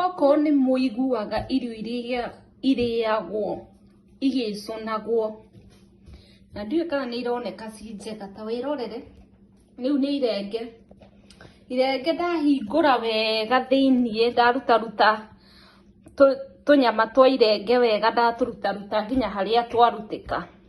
Okorwo nĩ mũiguaga irio iria irĩagwo igĩcũnagwo, na ndiũĩ kana nĩ ironeka ci njega, ta wĩrorere, rĩu nĩ irenge, irenge ndahingũra wega thĩiniĩ, ndaruta ruta tũnyama twa irenge wega ndatũruta ruta nginya harĩa twarutĩka.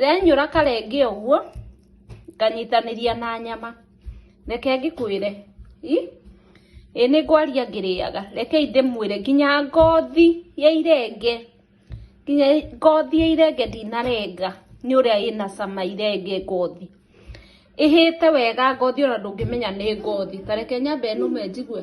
Renyũra karenge ũguo nganyitanĩria na nyama reke ngĩkwĩre i ĩ nĩ ngwaria ngĩrĩaga reke ndĩmwĩre nginya ngothi ya irenge nginya ngothi ya irenge ndinarenga nĩ ũrĩa ĩna cama irenge ngothi ĩhĩte wega ngothi ona ndũngĩmenya nĩ ngothi ta reke nyambe nũme njigue.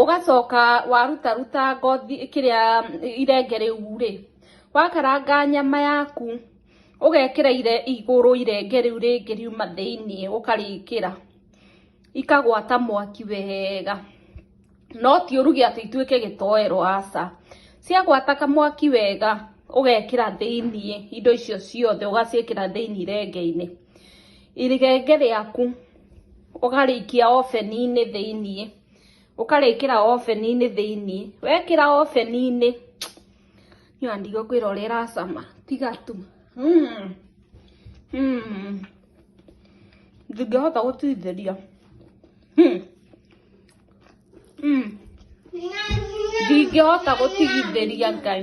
ũgacoka waruta ruta ngothi kĩrĩa irenge rĩu rĩ, wakaranga nyama yaku ũgekĩra igũrũ irenge rĩu rĩngĩ riuma thĩinĩ ũkarĩkĩra, ikagwata mwaki wega, no ti ũruge atĩ ituĩke gĩtoero aca, ciagwata kamwaki wega ũgekĩra thĩinĩ indo icio ciothe ũgaciĩkĩra thĩinĩ irenge-inĩ. irigenge rĩaku ũkarĩikia oveni-inĩ thĩiniĩ ũkarĩkĩra oveni-inĩ thĩiniĩ wekĩra oveni-inĩ nĩ andigo kwĩra ũrĩa ĩracama tiga tu mm. Mm. ndingĩhota gũtuithĩria mm. mm. ndingĩhota gũtigithĩria ngai